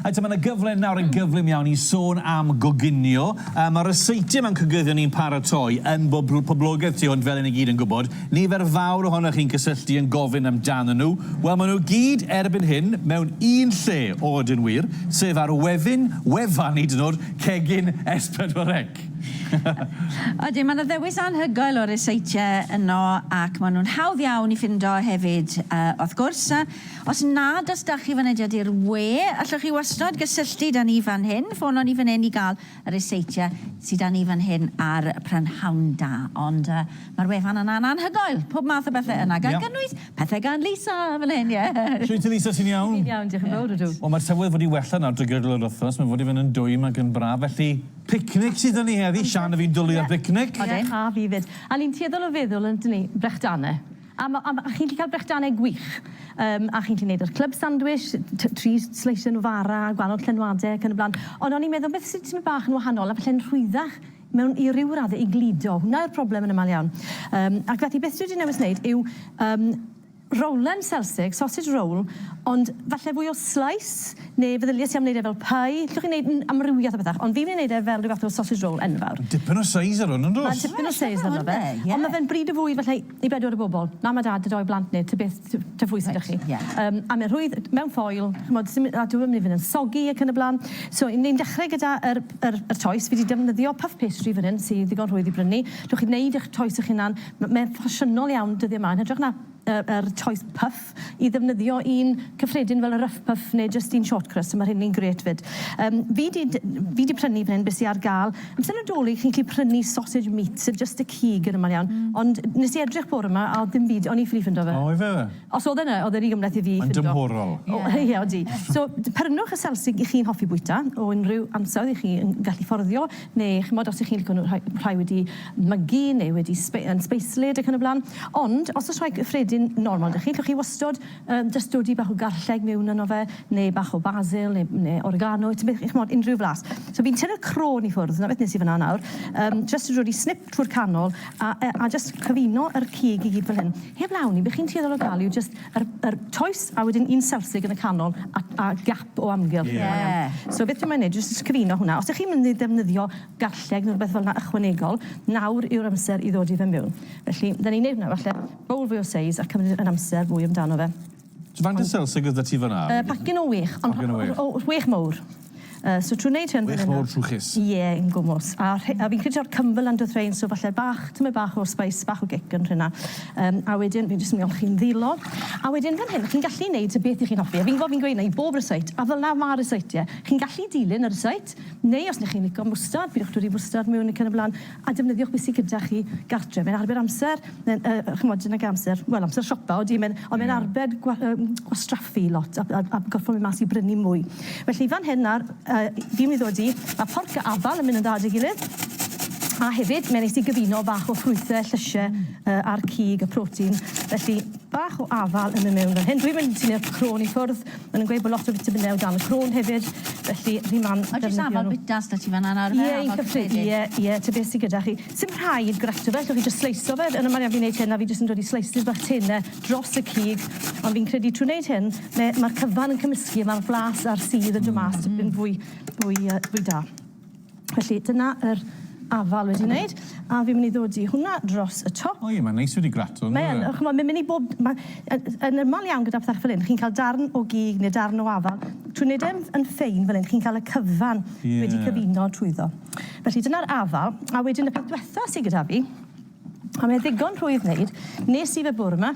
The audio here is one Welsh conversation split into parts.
Eto, mae yna gyfle nawr yn gyflym iawn i sôn am goginio. Uh, mae ryseitiau mewn cygyddion ni'n paratoi yn bob poblogaeth tu hwnt fel yn i gyd yn gwybod. Nifer fawr ohonoch chi'n cysylltu yn gofyn amdanyn nhw. Wel, maen nhw gyd erbyn hyn mewn un lle o yn wir, sef ar wefyn, wefan i dynwr, cegin S4C. Ydy, mae yna ddewis anhygoel o ryseitiau yno ac maen nhw'n hawdd iawn i ffindo hefyd, uh, wrth gwrs. Os nad os da chi fynediad i'r we, allwch chi wastod gysylltu da ni fan hyn, ffono ni fan hyn i gael y ryseitiau sy da ni fan hyn a'r prynhawn da. Ond yy mae'r wefan yna yn anhygoel, pob math o bethe yna, gan gynnwys pethe gan Lisa fan hyn, ie! Shwt ti Lisa, ti'n iawn? Dwi'n iawn, diolch yn fawr, ydw. Wel mae'r tywydd wedi wella nawr drwy gydol yr wythnos, mae'n fod i fynd yn dwym ac yn braf, felly picnic sydd da ni heddi, Sian a fi'n dwlu ar bicnic. Odyn. A fi 'fyd. A ni'n tueddol o feddwl, yndyn ni, Brechtane. A ma- a ma- a chi'n gallu cael brechdanau gwych. Yym, a chi'n gallu neud yr club sandwich, t- tri sleisio nhw fara, gwahanol llenwade ac yn y blaen. Ond o'n i'n meddwl beth sy'n tipyn bach yn wahanol a falle'n rhwyddach mewn i ryw radde i gludo. Hwnna yw'r problem yn amal iawn. Yym, ac felly beth dwi 'di newis neud yw yym rowlen selsig, sausage roll, ond falle fwy o slice, neu feddylies i am neud e fel pie. Llwch chi neud n- amrywiaeth o bethach, ond fi myn' i neud e fel ryw fath o sausage roll enfawr. Dipyn o seis ar 'wn, yn dos? Mae dipyn o seis arno fe. Ond ma' fe'n bryd o fwyd falle i I bedwar o bobl. Mam a dad a dou blant neu tybeth t- tŷ pwy sy 'da chi. Reit, ie. Yym a ma' rhwydd mewn ffoil, ch'mod sim a dyw e 'im yn mynd i fyn' yn soggy ac yn y bla'n. So 'yn ni'n dechre gyda yr yr yr toes. Fi 'di defnyddio puff pastry fan 'yn sy ddigon rhwydd i brynu. Dewch i neud 'ych toes 'ych hunan. M- mae e'n ffasiynol iawn dyddie 'ma yn hytrach na yy yr toes puff. i ddefnyddio un cyffredin fel y Ruff Puff neu jyst un short crust, so ma' rheini'n grêt 'fyd. Yym fi 'di d- fi 'di prynu fan hyn be' sy ar ga'l. Amser Nadolig chi'n gallu prynu sausage meat, so jyst y cig yn amal iawn. Hmm. Ond nes i edrych bore 'ma a o'dd dim byd, o'n i ffili ffindo fe. O ife? Os o'dd e 'na, o'dd e ry gymhleth i fi ffindo. Mae'n dymhorol. O ie odi. So prynwch y selsig 'ych chi'n hoffi bwyta o unrhyw ansawdd 'ych chi yn gallu fforddio. neu ch'mod os 'ych chi'n lico nhw rhai rhai wedi mygu neu wedi sbe- yn sbeislyd ac yn y bla'n. Ond os o's rhai cyffredin normal 'da chi, llwch chi wastod yym jyst dodi bach o garlleg miwn yno fe, neu bach o basil neu neu oregano, tybed chi ch'mod unrhyw flas. So fi'n tynnu'r crôn i ffwrdd, 'na beth nes i fyn 'na nawr, yym jyst yn rhoi snip trwy'r canol a yy a jyst cyfuno yr cig i gyd fel hyn. Heb law 'ny, be' chi'n tueddol o ga'l yw jyst Yr yr toes a wedyn un selfstig yn y canol a a gap o amgylch. Ie. Da iawn. So beth dwi moyn neud yw jyst sgrino hwnna. Os 'ych chi'n mynd i ddefnyddio garlleg ne' rwbeth felna ychwanegol, nawr yw'r amser i ddodi fe miwn. Felly, 'dan ni'n neud hwnna falle bowl fwy o seis a cymryd yn amser fwy amdano fe. So faint o selsig o'dd 'da ti fan 'na? Yy pacyn o wech. Pacyn o wech. O wech mowr. Yy so trw neud hyn... Wych mowr trwchus. Ie yn gwmws. A rhe- a fi'n credu taw Cymble lan do'dd rhein so falle bach tymed bach o spice bach o gic yn rhena. Yym a wedyn fi'n jyst yn myn' i chi'n ddilo. A wedyn fan hyn chi'n gallu neud y beth 'ych chi'n hoffi a fi'n gwbo fi'n gweud 'na i bob rysáit a felna ma' rysáitie. Chi'n gallu dilyn y rysáit neu os 'ny chi'n lico mwstard pidwch dwli mwstard miwn ac yn y bla'n. a defnyddiwch be sy gyda chi gartre. Mae'n arbed amser, mae'n yy yy ch'mod yn ag amser, wel amser siopa odi mae'n ond mae'n arbed gwa- yym gwastraffu lot a a a gorffo myn' mas i brynu mwy. Felly fan hyn nawr yy fi'n myn' i ddod i ma' porc a afal yn myn' yn dda 'da'i gilydd a hefyd mae'n neis i gyfuno bach o ffrwythe, llysie yy a'r cig y protein felly bach o afal yn myn' mewn fan hyn. Dwi'm yn tynnu'r crôn i ffwrdd Mae nhw'n gweud bod lot o fitaminau o dan y crôn hefyd, felly chi'n man ddefnyddio nhw. Oes oes afal bwytas 'da ti fan 'na nawr ife? Ie eitha ffug ie ie ta beth sy gyda chi. Sim rhaid grato fe, allwch chi jyst sleisio fe, yn y man fi'n neud hyn a fi jyst yn dod i slices bach tene dros y cig, ond fi'n credu trwy neud hyn me- ma'r cyfan yn cymysgu a ma'r blas a'r sudd yn dod mas tipyn fwy fwy yy fwy da. Felly dyna yr afal wedi neud a fi'n myn' i ddod i hwnna dros y top. O ie ma'n neis wedi grato on'd yw e? Mae yn o ch'mod ma'n myn' i bob ma' yy yn yml iawn gyda pthe fel 'yn chi'n ca'l darn o gig ne' darn o afal trwy neud e'n yn ffein fel 'yn chi'n ca'l y cyfan... Ie. ...wedi cyfuno trwyddo. Felly dyna'r afal a wedyn y peth dwetha sy gyda fi a mae e ddigon rhwydd neud nes i fe bwrw 'ma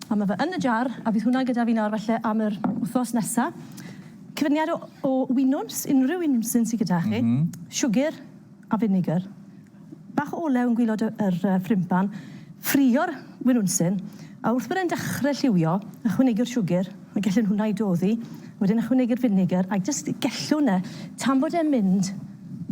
a ma' fe yn y jar a bydd hwnna gyda fi nawr falle am yr wthnos nesa Cyfuniad o o winwns, unrhyw winwns sy'n sy gyda chi. M-hm. Siwgr a finegr. Bach o olew yn gwilod y yr yy ffrindpan. Ffrio'r winwnsyn, a wrth bod e'n dechre lliwio, ychwanegu'r siwgr, a gellwn hwnna i doddi, wedyn ychwanegu'r finegr, a jyst gellwn e tan bod e'n mynd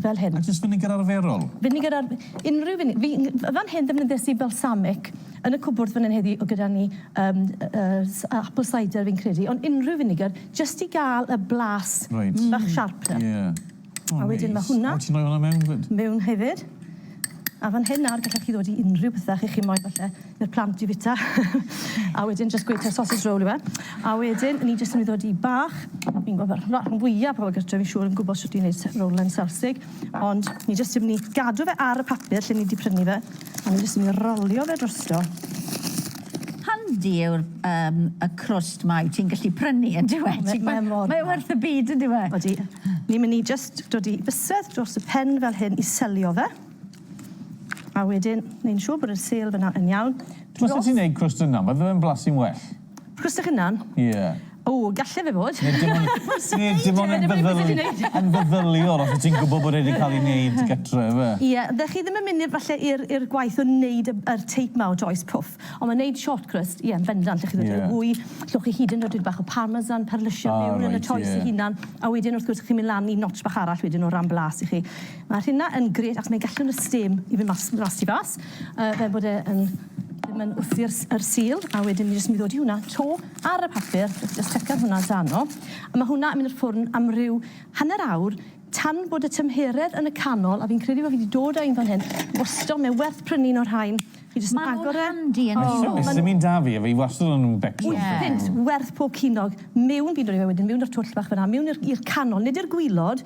fel hyn. A jyst finegr arferol? Finegr ar- unrhyw fine- fi n- f- fan hyn ddefnyddies i balsamic yn y cwbwrdd fan hyn heddi o' gyda ni yym yy s- apple cider fi'n credu, ond unrhyw finegr Jyst i gael y blas bach sharper. Reit, ie. A wedyn ma' hwnna... O, ti'n rhoi hwnna mewn 'fyd? Mewn hefyd. A fan hyn nawr gallech chi ddod i unrhyw bethe chi moyn falle i'r plant i fita. A wedyn jyst gweud taw sausage roll yw e. A wedyn ni jyst yn mynd i ddod i bach, fi'n gwel' ma'r rhan fwya pobol gartre fi'n siŵr yn gwbo shwt i neud s- roll yn Selsig, ond ni jyst yn myn' i gadw fe ar y papur lle ni 'di prynu fe, a ni jyst yn myn' i rolio fe drosto. Handi yw'r yym y crwst 'ma wyt ti'n gallu prynu yndyw e? Ti ma' mor dda. Mae e werth y byd yndyw e? Odi. Ni myn' i jyst dod i bysedd dros y pen fel hyn i selio fe. A wedyn neu'n siŵr bod yr sêl fyna yn iawn. Dros... Os wyt ti'n neud crwst dy hunan bydde fe'n blasu'n well. Crwst eich hunan? Ie. O, galle fe fod. Neu dim ond... Wnest ti ddeud e, dyna be wnest ti neud. Yn feddyliol, os wyt ti'n gwybod bod e wedi cael ei wneud gytre, ife? Ie, dach chi ddim yn mynd i'r falle i'r i'r gwaith o wneud y yr teip 'ma o Joyce Puff, ond ma' wneud short crust, ie, yn bendant, dach chi'n dod â'r ŵy, llwch chi hyd yn oed dipyn bach o parmesan, perlyse miwn yn y Joyce ei hunan, a wedyn wrth gwrs chi'n mynd lan i notch bach arall wedyn o ran blas i chi. Ma'r hynna yn grêt achos mae'n gallu rhoi stêm i fynd mas mas tu fas, yy fel bod e yn ddim yn wthi'r s- yr sul, a wedyn ni jyst yn mynd i ddod i hwnna 'to. Ar y papur, wrth jyst tsecio hwnna ta no, ma' hwnna yn mynd i'r ffwrn am ryw hanner awr tan bod y tymheredd yn y canol, a fi'n credu bo' fi 'di dod â un fan hyn, wastod, mae werth prynu un o'r rhain, chi jyst yn agor e... Ma' nw'n handi yn y sioe. Sdim un 'da fi, a fi wastod yn becso am prynu un. Wyth punt werth pob cinog. Miwn, fi'n dod â fe wedyn miwn i'r twll bach fan 'na, miwn i'r i'r canol, nid i'r gwilod,